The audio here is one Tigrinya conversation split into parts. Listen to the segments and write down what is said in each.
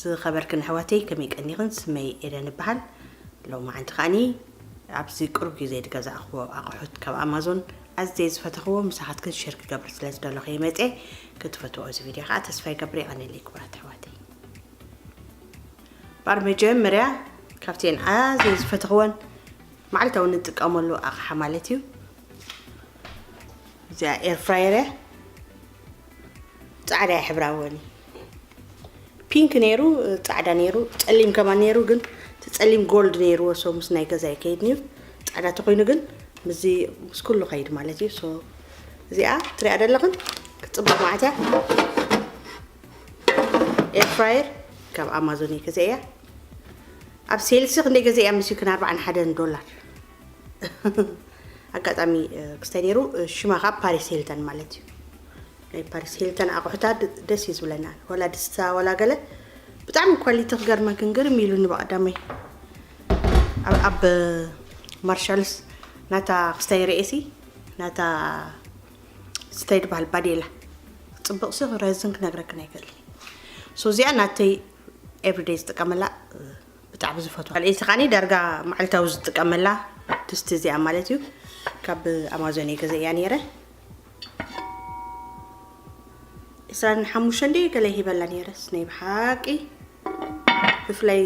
ዝኸበርክን ኣሕዋተይ ከመይ ቀኒኽን ስመይ ኤደን ይበሃል ሎማዓንቲ ከዓኒ ኣብዚ ቅሩብ ግዜ ዝገዛእኽዎ ኣቑሑት ካብ ኣማዞን ኣዝየ ዝፈተኽዎ ምሳኻትክን ሸር ክገብር ስለ ዝደለኹ እየ መፅየ ክትፈትዎ እዚ ቪድዮ ከዓ ተስፋ ይገብር ይቐኒለይ ክቡራት ኣሕዋተይ ባር መጀመርያ ካብቲን ኣዝየ ዝፈተኽወን መዓልታዊ ንጥቀመሉ ኣቕሓ ማለት እዩ እዚኣ ኤርፍራየር እያ ጻዕዳ ሕብራወን ፒንክ ነይሩ ጻዕዳ ነይሩ ጸሊም ከማን ነይሩ ግን እቲ ጸሊም ጎልድ ነይርዎ ሶ ምስ ናይ ገዛ ይከይድ ነይሩ ጻዕዳ ተኮይኑ ግን ምስዚ ምስ ኩሉ ከይድ ማለት እዩ ሶ እዚኣ ትሪኣ ደለኽን ክፅብቅ ማለት እያ ኤርፍራየር ካብ ኣማዞን እየ ገዚኣ ኣብ ሴልሲ ክንደይ ገዚኣ ምስዩ ክን ኣርባዓን ሓደን ዶላር ኣጋጣሚ ክስታይ ነይሩ ሽማ ከዓ ፓሪስ ሂልተን ማለት እዩ ናይ ፓሪስ ሂልተን ኣቑሑታ ደስ እዩ ዝብለና ዋላ ድስታ ዋላ ገለ ብጣዕሚ ኳሊቲ ክገርመክ ግርም ኢሉኒ በቀዳመይ ኣብ ማርሻልስ ናታ ክስታይ ርእሲ ናታ ስታይ ድበሃል ባዴላ ፅብቅ ሲ ረዝን ክነግረክን ኣይክእል ሶ እዚኣ ናተይ ኤቭሪደይ ዝጥቀመላ ብጣዕሚ ዝፈትዋ ካልኣይቲ ከዓኒ ዳርጋ መዓልታዊ ዝጥቀመላ ድስቲ እዚኣ ማለት እዩ ካብ ኣማዞን እየ ገዘእያ ነይረ ዕስራን ሓሙሽተን ደይ ገለ ሂበላ ነይረስ ናይ ብሓቂ ብፍላይ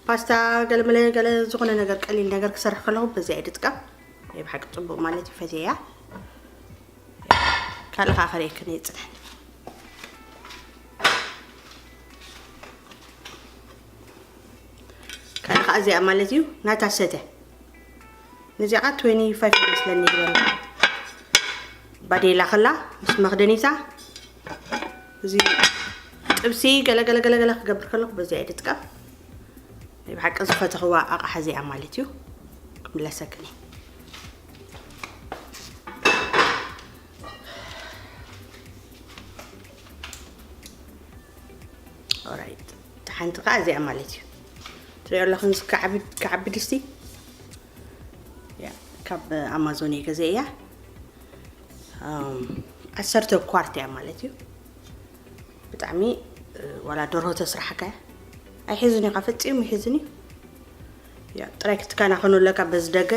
ፓስታ ገለ መለ ገለ ዝኾነ ነገር ቀሊል ነገር ክሰርሕ ከለኹ በዚያ እየ ድጥቀም ናይ ብሓቂ ፅቡቅ ማለት እዩ ፈትየ እያ ካልእ ከዓ ከርእየክን እየ ፅነን ካኣ ካኣ እዚኣ ማለት እዩ ናታ ሰተ ነዚኣ ኸ 25 ይመስለኒ ዝበለ ባዴላ ከላ ምስ መኽደኒታ እዚ ጥብሲ ገለገለገለገለ ክገብር ከለኹ በዚኣ እየ ድጥቀም ናይ ብሓቂ ዝፈተኽዋ ኣቕሓ እዚኣ ማለት እዩ ክምለሰክኒ ኦራይት ሓንቲ ከዓ እዚኣ ማለት እዩ ትሪኦ ኣለኹም ክዓቢ ድስቲ ካብ ኣማዞን እየ ገዘ እያ ዓሰርተ ኳርት እያ ማለት እዩ ብጣዕሚ ዋላ ደርሆ ተስራሕካ ኣይሕዝን እዩ ካብ ፈፂሙ ይሕዝን እዩ ያብ ጥራይ ክትከናኸኑ ኣለካ በዚ ደገ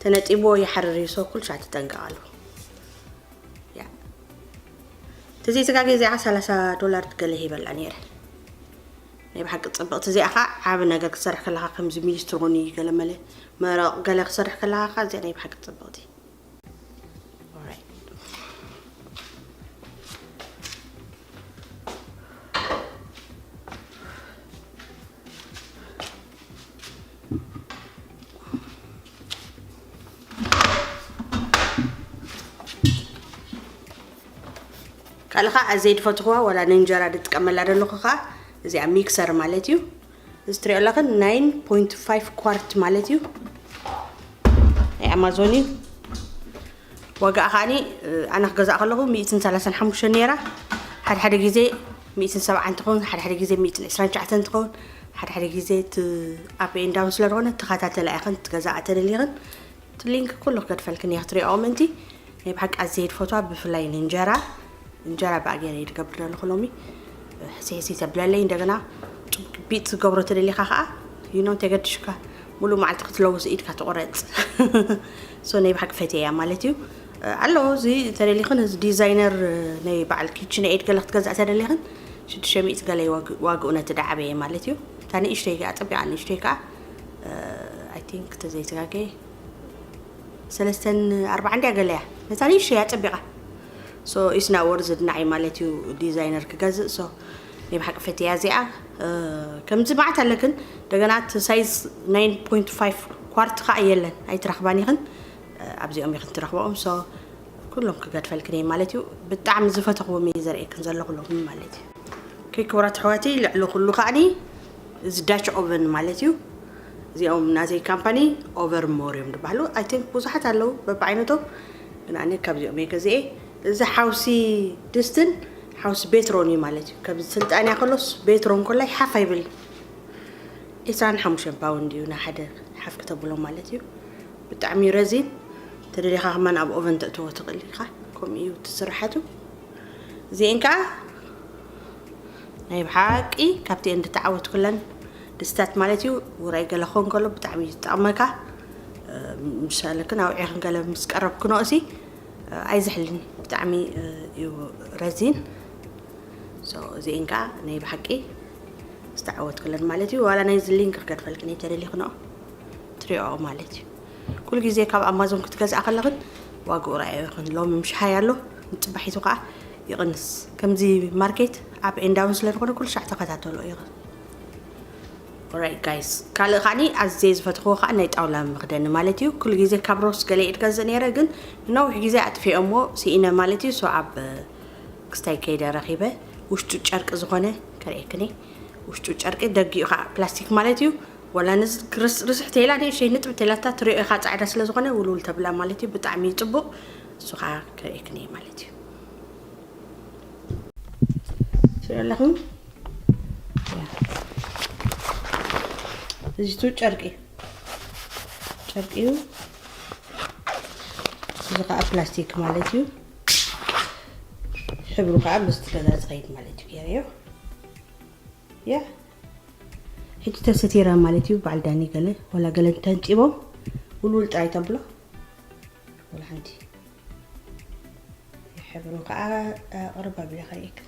ተነጢብዎ ይሓርር እዩ ሰው ኩልሻ ትጠንቀቃሉ ያ ትዚ ስጋ ጊዜኣ 30 ዶላር ትገለ ሂበላ ነይረ ናይ ብሓቂ ፅብቕቲ እዚኣ ከዓ ዓብ ነገር ክሰርሕ ከለካ ከምዚ ሚኒስትር ሆኒ ገለ መለ መረቕ ገለ ክሰርሕ ከለካ ከዓ እዚኣ ናይ ብሓቂ ፅብቕቲ ካልእ ከዓ ኣዘይ ድፈትኹዋ ዋላ ንእንጀራ ድጥቀመላ ዘለኹ ከዓ እዚኣ ሚክሰር ማለት እዩ እዚ ትሪኦ ኣለኸ 9.5 ኳርት ማለት እዩ ናይ ኣማዞን እዩ ዋጋኣ ከኣኒ ኣነ ክገዛእ ከለኹ ሚእትን ሰላሳን ሓሙሽተን ነይራ ሓደ ሓደ ግዜ ሚእትን ሰብዓን ትኸውን ሓደ ሓደ ግዜ ሚእትን ዕስራን ትሽዓተን ትኸውን ሓደ ሓደ ግዜ እቲ ኣፕ ኤን ዳውን ስለ ዝኾነ ተኸታተላ ኢኽን ትገዛኣ ተደሊኽን እቲ ሊንክ ኩሉ ክገድፈልክን እየ ክትሪኦ ምእንቲ ናይ ብሓቂ ኣዝየ ድፈትዋ ብፍላይ ንእንጀራ እንጀራ ብኣ ገይረ እየ ድገብር ዘለኹ ሎሚ ሕሲ ሕሲ ተብለለይ እንደገና ጭቢጥ ዝገብሮ ተደሊኻ ከዓ ይኖ እንተየገድሽካ ሙሉእ መዓልቲ ክትለውስ ኢድካ ትቑረፅ ሶ ናይ ብሓቂ ፈትየያ ማለት እዩ ኣሎ እዚ ተደሊኽን እዚ ዲዛይነር ናይ በዓል ኪችን ኤድ ገለ ክትገዛእ ተደሊኽን ሽዱሽተ ሚእቲ ገለ ዋግኡ ነቲ ዳዓበየ ማለት እዩ እታ ንእሽተይ ከዓ ፀቢቓ ንእሽተይ ከዓ ኣይ ቲንክ ተዘይተጋገየ ሰለስተን ኣርባዓ እንድያ ገለ እያ ነታ ንእሽተይ እያ ፀቢቓ ሶ ኢስና ወርዝድ ናዓይ ማለት እዩ ዲዛይነር ክገዝእ ሶ ናይ ብሓቂ ፈትያ እዚኣ ከምዚ ማዓት ኣለክን እንደገና እቲ ሳይዝ 9.5 ኳርት ከዓ የለን ኣይትረክባን ኢክን ኣብዚኦም ኢክን ትረክበኦም ሶ ኩሎም ክገድፈልክን እየ ማለት እዩ ብጣዕሚ ዝፈተኽዎም እየ ዘርእክን ዘለኹ ሎሚ ማለት እዩ ከይ ክብራት ኣሕዋተይ ልዕሊ ኩሉ ከዓኒ እዚ ዳች ኦቨን ማለት እዩ እዚኦም ናዘይ ካምፓኒ ኦቨር ሞር እዮም ዝበሃሉ ኣይ ቲንክ ብዙሓት ኣለዉ በብዓይነቶም ግን ኣነ ካብዚኦም እየ ገዚኤ እዚ ሓውሲ ድስትን ሓውሲ ቤትሮን እዩ ማለት እዩ። ከምዚ ስልጣንያ ከሎስ ቤትሮን ኮላይ ሓፍ ኣይብል ዕስራን ሓሙሽተን ፓውንድ እዩ ንሓደ ሓፍ ክተብሎ ማለት እዩ። ብጣዕሚ እዩ ረዚን ተደሊኻ ከማን ኣብ ኦቨን ተእትዎ ትኽእል ኢኻ። ከምኡ እዩ እቲ ስራሓቱ። እዚኤን ከዓ ናይ ብሓቂ ካብቲኤን ድተዓወትኩለን ድስታት ማለት እዩ። ውራይ ገለ ክኾን ከሎ ብጣዕሚ እዩ ዝጠቕመካ። ምሳለ ክን ኣውዒኽን ገለ ምስ ቀረብክንኦሲ ኣይዝሕልን ብጣዕሚ እዩ ረዚን so እዚኤን ከዓ ናይ ብሓቂ ዝተዓወትክለን ማለት እዩ ዋላ ናይዚ ሊንክ ክገድፈልክን እየ ተደሊኽንኦ ትሪኦ ማለት እዩ ኩሉ ግዜ ካብ ኣማዞን ክትገዝኣ ከለኽን ዋግኡ ረኣዮ ይኹን ሎሚ ምሽ ሃይ ኣሎ ንፅባሒቱ ከዓ ይቕንስ ከምዚ ማርኬት ኣብ ኤንዳውን ስለ ዝኾነ ኩሉ ሻዕ ተኸታተሎ ኢኽን Alright guys ካልእ ከዓኒ ኣዝየ ዝፈተኽዎ ከኣ ናይ ጣውላ መኽደኒ ማለት እዩ ኩሉ ግዜ ካብ ሮስ ገለ ይዕገዝ ነይረ ግን ንነዊሕ ግዜ ኣጥፊኦምዎ ስኢነ ማለት እዩ ሶ ኣብ ክስታይ ከይደ ረኺበ ውሽጡ ጨርቂ ዝኾነ ከርእየክኒ ውሽጡ ጨርቂ ደጊኡ ከዓ ፕላስቲክ ማለት እዩ ወላ ርስሕ ተላ ንእሸይ ንጥብ ተላታ ትሪኦ ኢኻ ፃዕዳ ስለ ዝኾነ ውልውል ተብላ ማለት እዩ ብጣዕሚ እዩ ፅቡቕ እሱ ከዓ ከርእየክኒ ማለት እዩ ትሪኦ ኣለኹም እዚቱ ጨርቂ ጨርቂ እዩ እዚ ከዓ ፕላስቲክ ማለት እዩ ሕብሩ ከዓ ምስቲ ገዛ ፀይድ ማለት እዩ ገይረዮ ያ ሕጂ ተሰቲራ ማለት እዩ በዓል ዳኒ ገለ ወላ ገለ እንተንፂቦም ውልውል ጥራይ ተብሎ ወላ ሓንቲ ሕብሩ ከዓ ቅርብ ኣቢለ ከርእየክን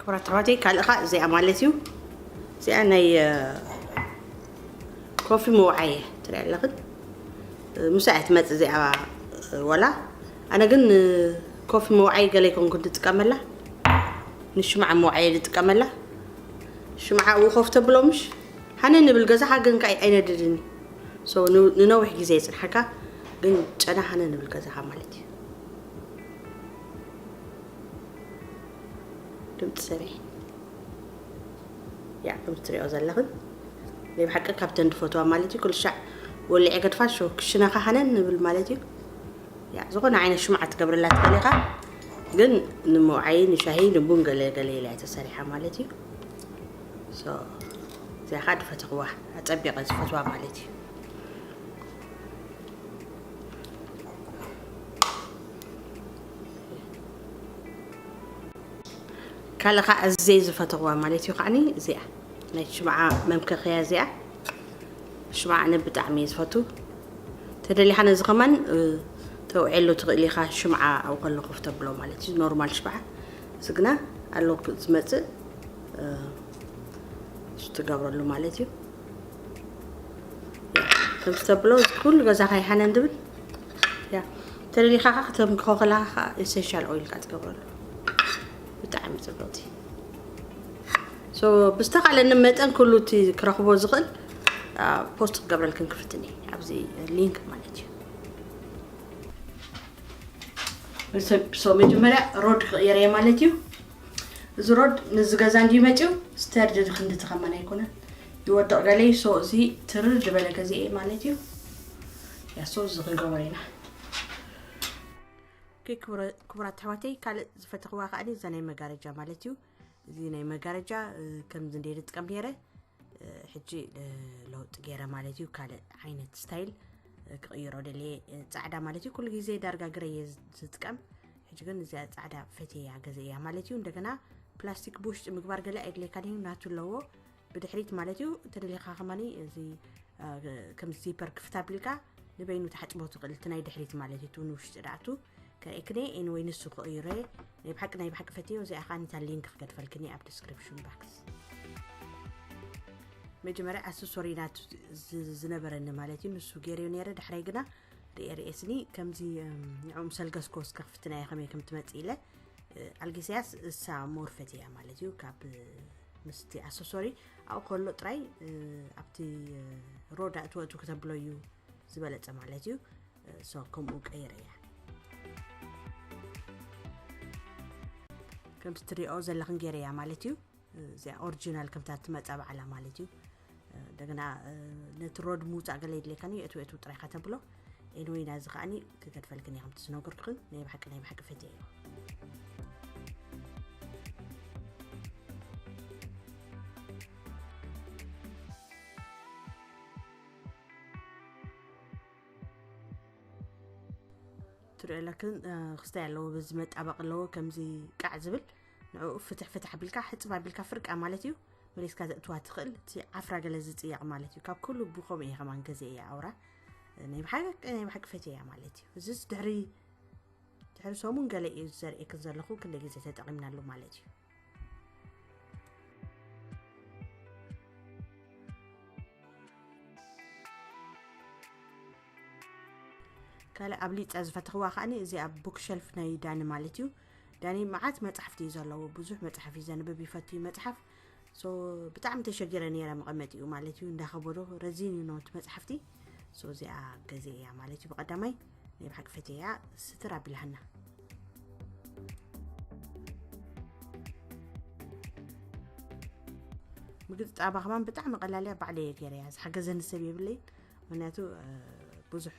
ክቡራት ኣሕዋተይ ካልእ ከዓ እዚኣ ማለት እዩ እዚኣ ናይ ኮፊ መውዓየ ትሪኣ ኣለኽን ምሳ እያ ትመፅእ እዚኣ ዋላ ኣነ ግን ኮፊ መውዓይ ገለ ይኮንኩ ትጥቀመላ ንሽምዓ መውዓየ ዝጥቀመላ ሽምዓ እው ኮፍ ተብሎ ምሽ ሓነ ንብል ገዛኻ ግን ከዓ ኣይነድድን እዩ ንነዊሕ ግዜ የፅንሓካ ግን ጨና ሓነ ንብል ገዛኻ ማለት እዩ ድምፂ ሰበይ ያ ከም ትሪኦ ዘለኽን ናይ ብሓቂ ካብተን ድፈትዋ ማለት እዩ ኩልሻዕ ወሊዐ ገድፋ ሾ ክሽነ ካሃነን ንብል ማለት እዩ ያ ዝኾነ ዓይነት ሽምዓ ትገብረላ ትኽእል ኢኻ ግን ንምውዓይ ንሻሂ ንቡን ገለ ገለ ኢላ እያ ተሰሪሓ ማለት እዩ ሶ እዚኣ ከዓ ድፈትኽዋ ኣፀቢቐ ዝፈትዋ ማለት እዩ ካልእ ከዓ ኣዝየ ዝፈተዋ ማለት እዩ ከዓኒ እዚኣ ናይ ሽምዓ መምከኸያ እዚኣ ሽምዓ ኣነ ብጣዕሚ እየ ዝፈቱ ተደሊኻ ነዚ ከማን ተውዕሉ ትኽእል ኢኻ ሽምዓ ኣብ ከሎ ኮፍ ተብሎ ማለት እዩ ኖርማል ሽምዓ እዚ ግና ኣሎ ዝመፅእ ትገብረሉ ማለት እዩ ከምዚ ተብሎ ኩሉ ገዛኻ ይሓነ እንድብል ያ ተደሊካ ከኣ ክትምክኮ ከለካ ከኣ ኤሰንሻል ኦይል ከኣ ትገብረሉ ብጣዕሚ ጽብቅቲ ሶ ብዝተኻለኒ መጠን ኩሉ እቲ ክረኽቦ ዝኽእል ፖስት ክገብረልክን ክፍትን እየ ኣብዚ ሊንክ ማለት እዩ ሶ መጀመርያ ሮድ ክቕየር እየ ማለት እዩ እዚ ሮድ ንዚ ገዛ እንዲ መፅዩ ስተርድ ክንዲ ትኸመን ኣይኮነን ይወድቕ ገለይ ሶ እዚ ትርር ዝበለ ገዜ እየ ማለት እዩ ያሶ እዚ ክንገብሮ ኢና ክቡራት ኣሕዋተይ ካልእ ዝፈተኽዋ ከዓ እዛ ናይ መጋረጃ ማለት እዩ እዚ ናይ መጋረጃ ከምዚ እንደ ዝጥቀም ነይረ ሕጂ ለውጢ ገይረ ማለት እዩ ካልእ ዓይነት ስታይል ክቕይሮ ደልየ ፃዕዳ ማለት እዩ ኩሉ ግዜ ዳርጋ ግረ እየ ዝጥቀም ሕጂ ግን እዚኣ ፃዕዳ ፈትያ ገዘ እያ ማለት እዩ እንደገና ፕላስቲክ ብውሽጢ ምግባር ገለ ኣይድልየካን እዩ ናቱ ኣለዎ ብድሕሪት ማለት እዩ እንተደሊኻ ከማኒ እዚ ከም ዚፐር ክፍት ኣቢልካ ንበይኑ ተሓፅቦ ትኽእል እቲ ናይ ድሕሪት ማለት እዩ ንውሽጢ ዳኣቱ ከእክነ ኤንወይ ንሱ ክእዩረ ናይ ብሓቂ ናይ ብሓቂ ፈትዮ እዚኣ ከዓ ኒታ ሊንክ ክገድፈልክኒ ኣብ ዲስክሪፕሽን ባክስ መጀመርያ ኣሰሶሪ ናቱ ዝነበረኒ ማለት እዩ ንሱ ገይርዮ ነረ ዳሕራይ ግና ርኤ ርኤስኒ ከምዚ ንዕኡ ምሰልገስኮ እስከ ክፍትና እየ ከመይ ከም ትመፅእ ኢለ ኣልጌስያስ እሳ ሞርፈት እያ ማለት እዩ ካብ ምስቲ ኣሰሶሪ ኣብኡ ከሎ ጥራይ ኣብቲ ሮዳ እትወእቱ ክተብሎ እዩ ዝበለፀ ማለት እዩ ሶ ከምኡ ቀይረ እያ ከምቲ ትሪኦ ዘለኽን ገይረ እያ ማለት እዩ እዚኣ ኦሪጂናል ከምታ ትመፃ በዓላ ማለት እዩ እንደገና ነቲ ሮድ ምውፃእ ገለ የድልየካ ዩ እትው እትው ጥራይ ከተብሎ ኤንወይ ናዚ ከዓኒ ክገድፈልክን እየ ከምቲ ዝነገርኩክን ናይ ባሓቂ ናይ ባሓቂ ፈትየ እዩ ትሪኦ ኣለክን ክስታይ ኣለዎ በዚ መጣበቂ ኣለዎ ከምዚ ቃዕ ዝብል ንዕኡ ፍትሕ ፍትሕ ኣቢልካ ሕፅብ ኣቢልካ ፍርቃ ማለት እዩ መሊስካ ዘእትዋ ትኽእል እቲ ዓፍራ ገለ ዝፅየቕ ማለት እዩ ካብ ኩሉ ብከምኡ እየ ከማን ገዜ እያ ኣውራ ናይ ብሓቂ ናይ ብሓቂ ፈትየ እያ ማለት እዩ እዚስ ድሕሪ ድሕሪ ሰሙን ገለ እዩ ዘርእክን ዘለኹ ክንደ ግዜ ተጠቒምናሉ ማለት እዩ ካልእ ኣብሊፀ ዝፈተኽዋ ከዓኒ እዚ ኣብ ቡክሸልፍ ናይ ዳኒ ማለት እዩ ዳኒ መዓት መጻሕፍቲ እዩ ዘለዎ ብዙሕ መጽሓፍ እዩ ዘንብብ ይፈቱ እዩ መጽሓፍ ሶ ብጣዕሚ ተሸጊረ ነይረ መቐመጢኡ ማለት እዩ እንዳኸበዶ ረዚን እዩ ነውቲ መጽሓፍቲ ሶ እዚኣ ገዜ እያ ማለት እዩ ብቐዳማይ ናይ ብሓቂ ፈት እያ ስትር ኣቢልሃና ምግጥጣባ ከማን ብጣዕሚ ቀላል እያ ባዕለ እየ ገይረ እያ ዝሓገዘኒ ሰብ የብለይን ምክንያቱ ብዙሕ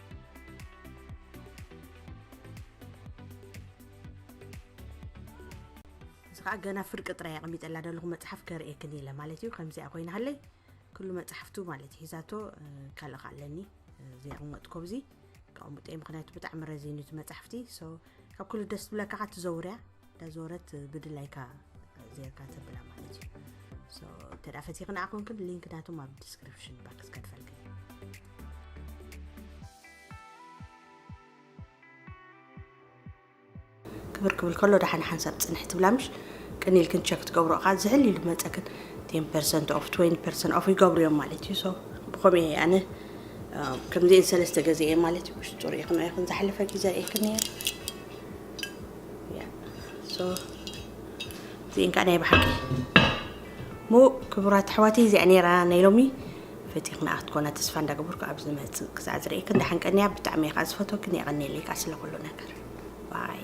እዚ ከዓ ገና ፍርቂ ጥራይ ኣቐሚጠላ ዘለኹ መፅሓፍ ከርእየክን ኢለ ማለት እዩ ከምዚኣ ኮይና ሃለይ ኩሉ መፅሓፍቱ ማለት እዩ ሂዛቶ ካልእ ከዓ ኣለኒ ዘየቕመጥኮ ብዚ ከቕምጦ ምክንያቱ ብጣዕሚ ረዚኑ እቲ መፅሓፍቲ ካብ ኩሉ ደስ ትብለካ ከዓ ትዘውርያ ዳዞረት ብድላይካ ዜርካ ተብላ ማለት እዩ እንተ ፈቲክ ንኣ ኮንክን ሊንክ ናቶም ኣብ ዲስክሪፕሽን ባክስ ከድፈልክ ክብር ክብል ከሎ ዳሓን ሓንሳብ ፅንሕ ትብላ ምሽ ቅን ኢልክን ቸክ ትገብሮ እኻ ዝሕል ኢሉ መፀክን 10 ፐርሰንት ኦፍ 20 ፐርሰንት ኦፍ ይገብሩ እዮም ማለት እዩ ሶ ብኸምኡ እየ ኣነ ከምዚአን ሰለስተ ገዜ እየ ማለት እዩ ውሽጡ ሪኢኽን ኢኽን ዝሓለፈ ግዜ ሪኢክን እየ እዚኤን ከዓ ናይ ብሓቂ እሞ ክቡራት ኣሕዋቲ እዚኣ ነይራ ናይ ሎሚ ፈቲኽና ክትኮና ተስፋ እንዳገበርኩ ኣብ ዝመፅእ ክሳዕ ዝርእየክን ደሓን ቀንያ ብጣዕሚ እየ ከዓ ዝፈትወክን የቐንየለይ ከዓ ስለ ኩሉ ነገር ባይ